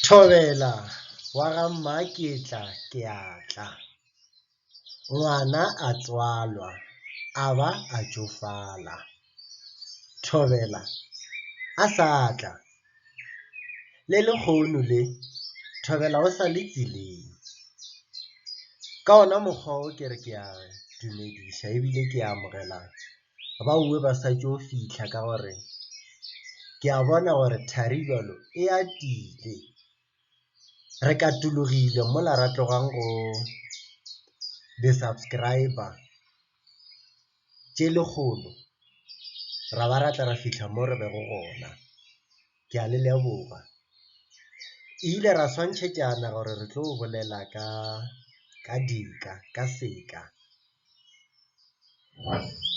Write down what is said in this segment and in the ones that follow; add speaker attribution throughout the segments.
Speaker 1: Thobela wa ga Mmaketla ke a tla. Ngwana a tswalwa a ba a tšofala. Thobela a sa tla, le lekgono le, Thobela o sa le tseleng. Ka wona mokgwa wo ke re ke a dumediša ebile ke a amogelang. ba uwe ba sa tšo fihla ka gore ke a bona gore thari jalo e atile re katologile mola ra tlogang go di-subscriber tše lekgolo ra ba ra tla ra fihla mo re bego gona ke a le leboga e ile ra swantšhetšana gore re tlo bolela ka ka dika ka seka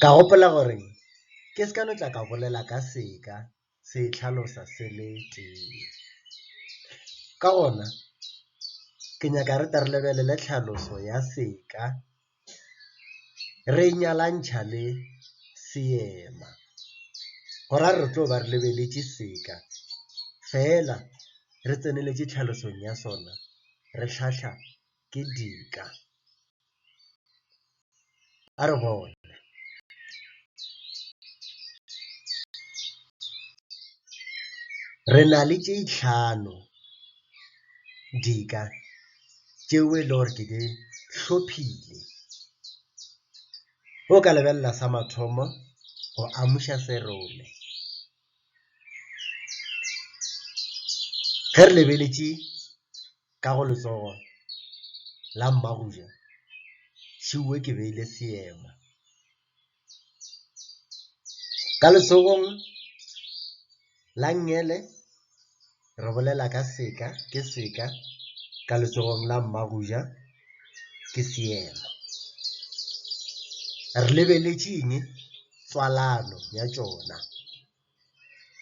Speaker 1: Ka gopola gore ke se ka no tla ka bolela ka seka, se itlhalosa se le tee. Ka gona ke nyaka re tle re lebelele tlhaloso ya seka re e nyalantšha le seema, go ra re tlo ba re lebeletše seka fela re tseneletše tlhalosong ya sona re hlahla ke dika. A re bone. Re na le tše tlhano dika tšeo e le gore ke di hlophile. Ge o ka lebelela sa mathomo go amuša serole. Ge re lebeletše. ka go letsogo la mmagoja šiuwe ke beile seema ka letsogong la ngele re bolela ka seka ke seka ka letsogong la mmagoja ke seema re lebeletšeng tswalano ya tšona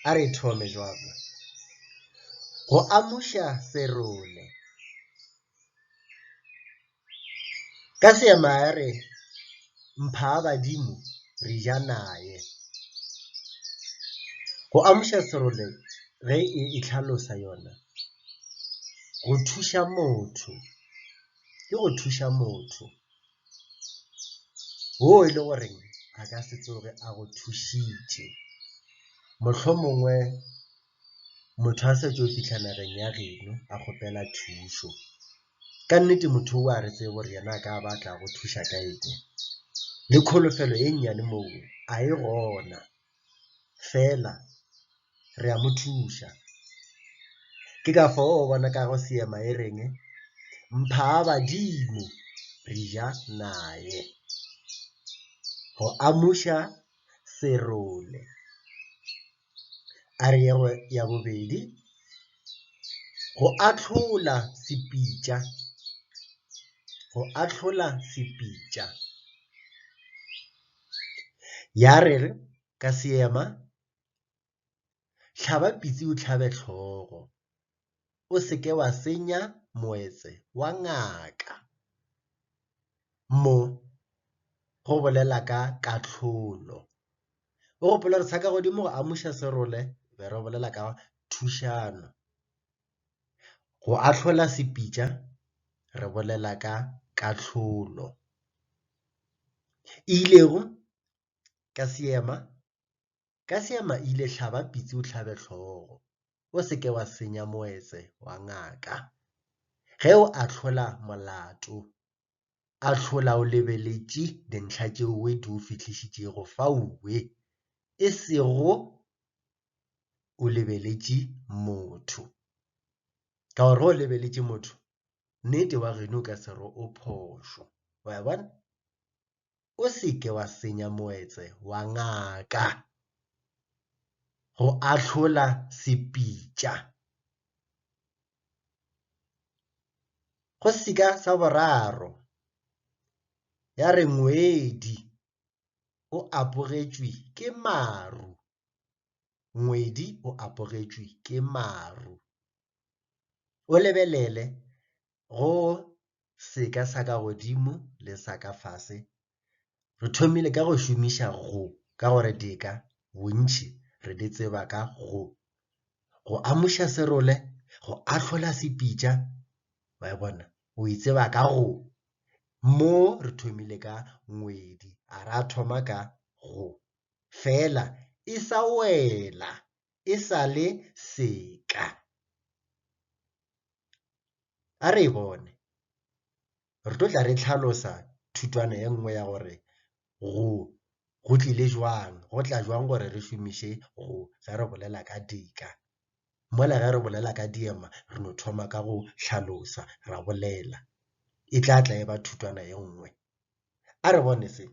Speaker 1: A re thome jwalo. Go amuša serole. Ka seema a re, mpha badimo re ja naye. Go amuša serole ge e itlhalosa yona, go thuša motho, ke go thuša motho. woo e le gore a ka se tsoge a go thušitše. Mohlomongwe motho a sa tšo fihla nageng ya geno a kgopela thušo, ka nnete motho o a re tsebe gore yena a ka ba tla go thuša ka eng, le kholofelo e nnyane moo ga e gona. Feela re a mo thuša. Ke ka fao o bona ka go seema e reng, Mphaa badimo, re ja naye. Go amuša serole. A re ya bobedi, go atlhola sepitša go atlhola sepitša. Ya re re ka seema, Hlaba pitsi o hlabe hlogo, o se ke wa senya moetse wa ngaka! Mo go bolela ka kahlolo. O gopola gore Thakagodimo go amuša serole be re bolela ka thušano. Go ahlola sepitša re bolela ka kahlolo. E ilego ka seema, ka seema e ile hlaba pitsi o hlabe hlogo, o se ke wa senya moetse wa ngaka ge o ahlola molato. ahlola o lebeletše dintlha tšeo di go fihlišitšego fao e sego o lebeletše motho. Ka gore o lebeletše motho, nnete wa geno o ka se re o phošo. Wa e bona? o se ke wa senya moetse wa ngaka go ahlola sepitša. Go seka sa boraro, ya re ngwedi o apogetšwe ke maru, ngwedi o apogetšwe ke maru. O lebelele go seka sa ka godimo le sa ka fase, re thomile ka go šomiša go ka gore dika bontši re di tseba ka go, go amuša serole, go ahlola sepitša, wa bona, o itseba ka go. Mo re thomile ka ngwedi, a ra thoma ka go. Fela e sa wela e sa le seka. A re e bone. Re tlo tla re tlhalosa thutwana e nngwe ya gore go go tlile jwang, go tla jwang gore re šomiše go ge re bolela ka dika. Mola ge re bolela ka diema re no thoma ka go hlalosa ra bolela. E tla tla e ba thutwana e nngwe. A re bone se,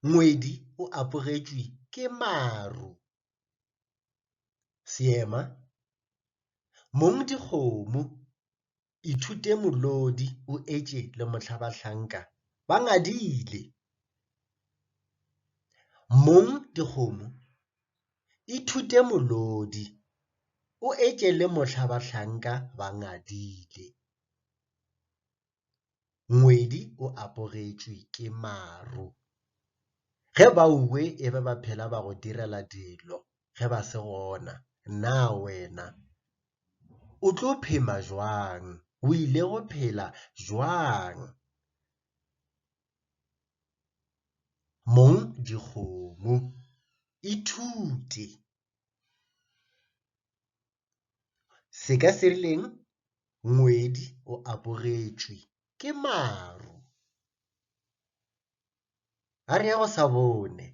Speaker 1: Ngwedi o apogetšwe ke maru. Seema, Mong dikgomo, Ithute molodi o etše le mohlabahlanka ba ngadile. Mong dikgomo, Ithute molodi o etše le mohlabahlanka ba ngadile. Ngwedi o apogetšwe ke maru. Ge baowe e be ba phela ba go direla dilo ge ba se gona, na wena o tlo phema bjang? O ile go phela bjang? Mong dikgomo. Ithute. Seka se rileng, Ngwedi o apogetšwe ke maru. A re ya go sa bone,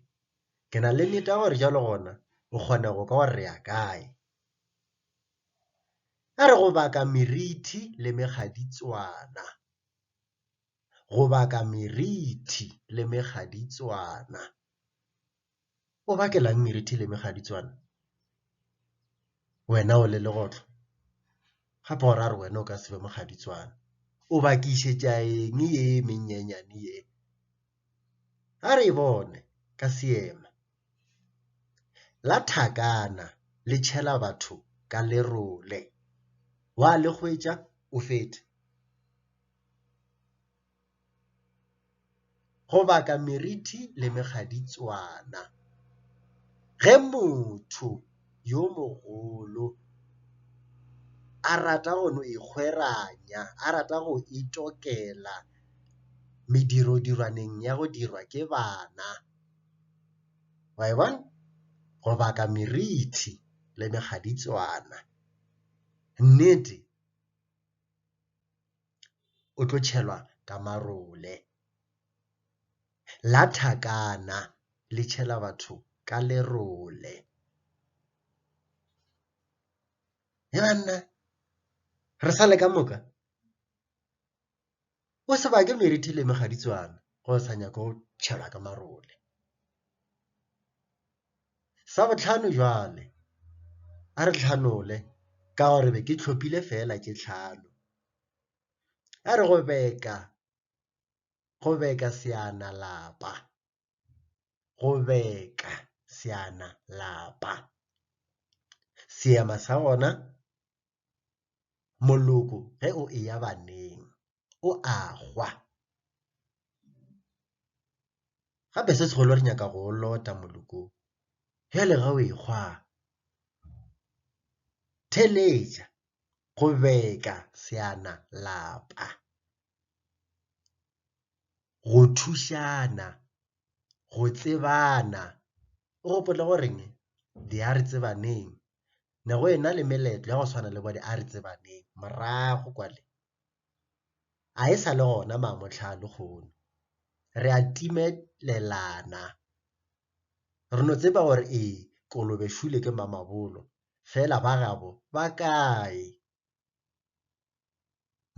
Speaker 1: Ke na le nnete ya gore bjalo gona o kgona go ka wa re ya kae. A re go baka meriti le mekgaditswana, Go baka meriti le mekgaditswana. O bakelang meriti le megaditswana? Wena o le legotlo? Gape gore a re wena o ka se be mogaditswana. O bakišetša eng ye e menyenyane ye? A re e bone ka seema. La thakana le tšhela batho ka lerole. Wa le hwetša o fete? go baka meriti le megaditswana. Ge motho yo mogolo a rata go no ikgweranya, a rata go itokela mediro-dirwaneng ya go dirwa ke bana, wa e bona? Go baka meriti le megaditswana. Nnete, o tlo tšhelwa ka marole. La thakana le tšhela batho ka lerole. He banna, re sa le ka moka? O se bake meriti le megaditswana go sa nyako tšhelwa ka marole. Sa bohlano bjale, a re hlanole ka gore be ke tlhophile feela tše hlano. A re go beka, go beka seana lapa, go beka seana lapa. Seema sa gona Moloko ge o eya baneng, o a hwa. Gape se segolo re nyaka go lota moloko. Bjale ga o ekgwa, theletša go beka seana lapa, go thušana go tsebana o gopole goreng di a re tsebaneng ne go ena le meletlo ya go tshwana le bo di a re tsebaneng morago kwale a e sa le gona mamotlhalo kgono re a timelelana re no tseba gore ee kolobe šule ke mamabolo fela ba gabo ba kae.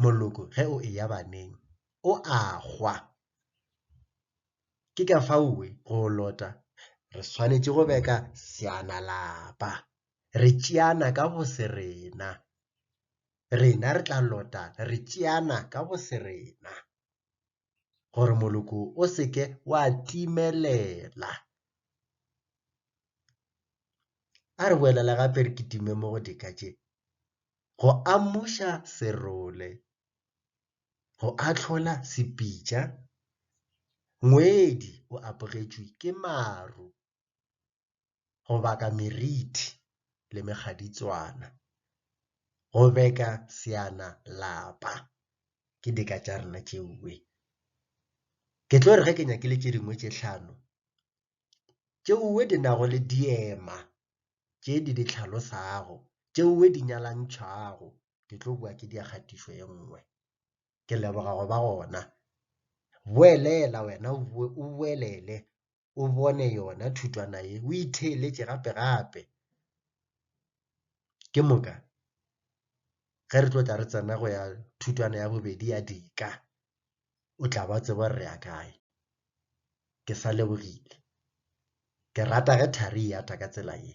Speaker 1: moloko ge o eya baneng, o a hwa. Ke ka faoe go lota re swanetše go beka seana lapa, re tšeana ka boserena. Rena re tla lota re tšeana ka boserena. gore moloko o se ke wa timelela. A re boelela gape re kitime mo go dika tše go amuša serole go ahlola sepitša ngwedi o apogetšwe ke maru go baka meriti le megaditswana, go beka seana lapa, ke dika tša rena tšeuwe. Ke tlo re ge ke nyakile tše dingwe tše hlano, tšeuwe di nago le diema tše di di tlhalosago, tšeuwe di nyalantšhwago, ke tlo bua ke di a kgatišo ye nngwe. Ke leboga go ba gona. Boelela wena o boelele o bone yona thutwana ye o itheeletše gape gape ke moka ge re tlo tla re tsena go ya thutwana ya bobedi ya dika o tla ba tseba re ya kae ke sa lebogile ke rata ge thari ya ta ka tsela ye